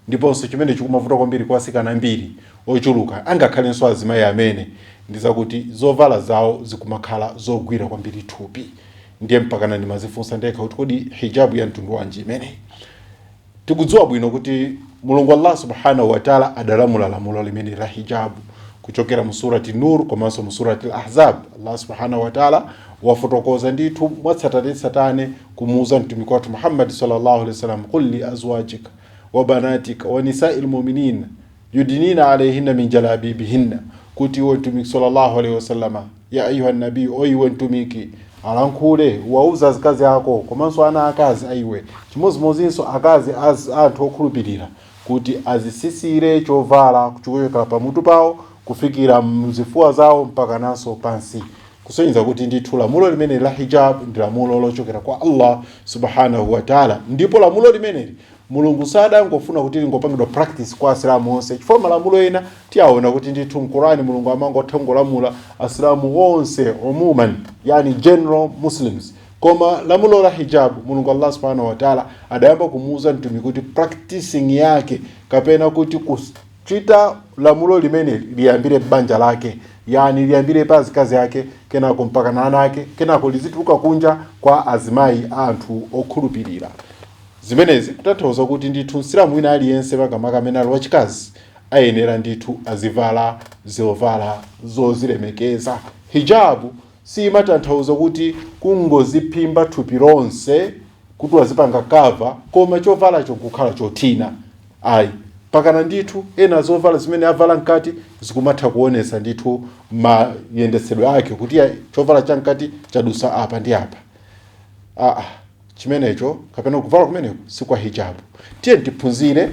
Ndiponso, chimene chikumavuta kwambiri kwa atsikana ambiri ochuluka, angakhalenso azimayi amene, ndi zakuti zovala zawo zikumakhala zogwira kwambiri thupi. Ndiye mpakana ndimadzifunsa ndekha kuti kodi hijab ya mtundu wanji imeneyi? Tikudziwa bwino kuti Mulungu Allah Subhanahu wa Ta'ala adalamula lamulo limeneli la hijab kuchokera mu Surati Nur komanso mu Surati Al-Ahzab. Allah Subhanahu wa Ta'ala wafotokoza ndithu mwatsatanetsatane kumuuza Mtumiki wathu Muhammad Sallallahu Alaihi Wasallam, Qul li azwajika wa banatika wa nisa'il mu'minina yudinina alayhinna min jalabibihinna kuti iwe mtumiki sallallahu alaihi wasallama ya ayuha nabii o iwe mtumiki alankhule wauze azikazi ako komanso ana akazi aiwe chimodzimodzinso akazi a anthu okhulupirira kuti azisisire chovala kuchokera pamutu pawo kufikira mzifuwa zawo mpakananso pansi kusonyeza kuti ndithu lamulo limeneli la hijab ndi lamulo lochokera kwa Allah subhanahu wa ta'ala ndipo lamulo limeneli mulungu sadangofuna kuti lingopangidwa practice kwa asilamu onse chifukwa malamulo ena tiwaona kuti ndithu mkurani mulungu amangotha kungolamula asilamu onse umuman yani general muslims koma lamulo la hijab mulungu allah subhanahu wa ta'ala adayamba kumuuza mtumiki kuti practicing yake kapena kuti kus- chita lamulo limeneli liyambire m'banja lake yani liyambire pa azikazi ake kenako mpakana ana ake kenako lizituluka kunja kwa azimayi a anthu okhulupirira zimenezi kutanthauza kuti ndithu msilamu wina aliyense makamaka amene ali wachikazi ayenera ndithu azivala zovala zozilemekeza hijabu siyimatanthauza kuti kungoziphimba thupi lonse kuti wazipanga cover koma chovalacho kukhala chothina ayi mpakana ndithu ena zovala zimene avala mkati zikumatha kuonesa ndithu mayendetsedwe ake kuti ya- chovala cha mkati chadusa apa ndi apa aa chimenecho kapena kuvala kumeneko si kwa hijabu tiye tiphunzire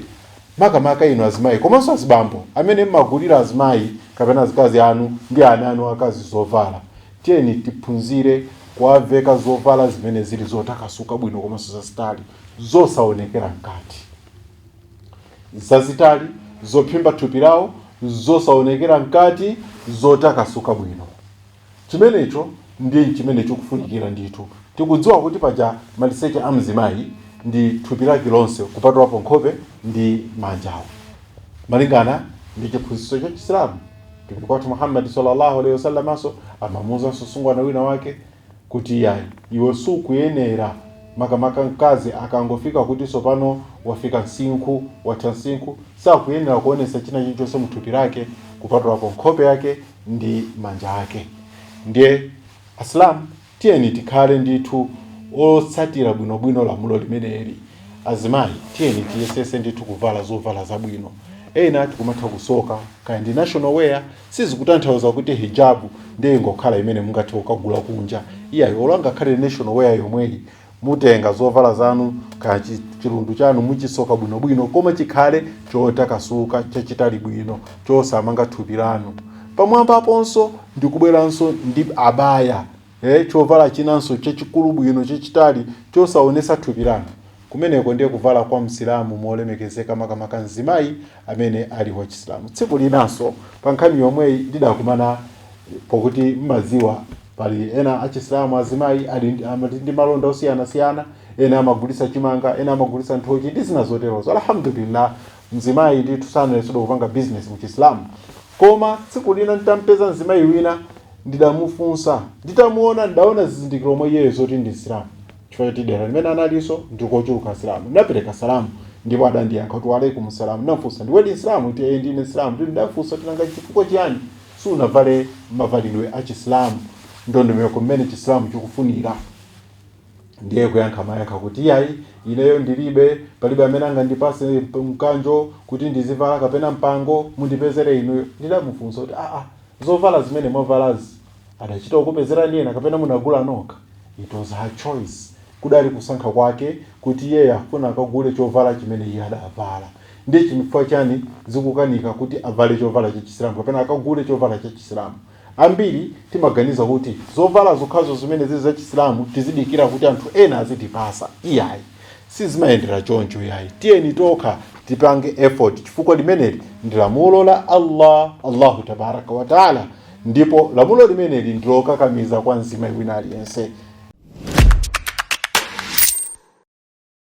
makamaka inu azimayi komanso azibambo amene mmagulira azimayi kapena azikazi anu ndi ana anu akazi zovala Tiyeni tiphunzire kuwaveka zovala zimene zili zotakasuka bwino komanso zazitali, zosaonekera mkati. Zazitali, zophimba thupi lawo, zosaonekera mkati, zotakasuka bwino. Chimenecho ndiye nchimene chikufunikira ndithu. Tikudziwa kuti paja maliseche a mzimayi ndi thupi lake lonse kupatulapo nkhope ndi manjawo, malingana ndi chiphunzitso cha Chisilamu. mtumiki wathu muhammad sallallahu alaihi wasallamanso amamuuzanso msungwana wina wake kuti yayi iwe sukuyenera makamaka mkazi akangofika kuti tsopano wafika msinkhu watha msinkhu sakuyenera kuonesa china chilichonse mthupi lake kupatulapo nkhope yake ndi manja ake ndiye asilamu Tiyeni tikhale ndithu otsatira bwinobwino lamulo limeneli. Azimayi tiyeni tiyesetse ndithu kuvala zovala zabwino. Ena tikumatha kusoka kaya ndi national wear, sizikutanthauza kuti hijab ndiye ingokhala imene mungathe kukagula kunja. Iyayi, olo ingakhale national wear yomweyi, Mutenga zovala zanu, kaya chi- chilundu chanu muchisoka bwinobwino koma chikhale chotakasuka chachitali bwino chosamanga thupi lanu pamwambaponso ndikubweranso ndi abaya eh, chovala chinanso chachikulu bwino chachitali chosaonesa thupi lanu kumeneko ndiye kuvala kwa msilamu molemekezeka makamaka mzimayi amene ali wachisilamu tsiku linanso pa nkhani yomweyi ndidakumana pokuti mmadziwa pali ena achisilamu azimayi ali ndi- amati ndi malonda osiyanasiyana ena amagulitsa chimanga ena amagulitsa nthochi ndi zina zoterozo alhamdulillah mzimayi ndithu sanaletsedwa kupanga business mu chisilamu koma tsiku lina nditampeza mzimayi wina ndidamufunsa nditamuona ndidaona zizindikiro mwa iyeyo zoti ndi msilamu chifukwa choti dera limene analinso ndikochuluka asilamu ndinapereka salamu ndipo adandiyankha kuti waalaikum salamu ndinafunsa ndiwe msilamu kuti ee ndine msilamu ndipo ndidafunsa kuti nanga chifukwa chiyani sunavale mavalidwe a chisilamu ndondomeko mmene chisilamu chikufunira ndiye kuyankha mayankha kuti iyayi ineyo ndilibe palibe amene angandipase mp- mkanjo kuti ndizivala kapena mpango mundipezere inuyo ndidamufunsa kuti aa zovala zimene mwavalazi adachita kukupezerani ena kapena munagula nokha it was her choice kudali kusankha kwake kuti iyeyo afuna akagule chovala chimene iye adavala Ndiye chifukwa chani zikukanika kuti avale chovala cha chisilamu kapena akagule chovala cha chisilamu? Ambiri timaganiza kuti zovala zokhazo zimene zili za chisilamu tizidikira kuti anthu ena azitipasa. Iyayi, sizimayendera choncho iyayi. Tiyeni tokha tipange effort chifukwa limeneli ndi lamulo la Allah, Allahu tabaraka wa taala ndipo lamulo limeneli ndi lokakamiza kwa mzimayi wina aliyense.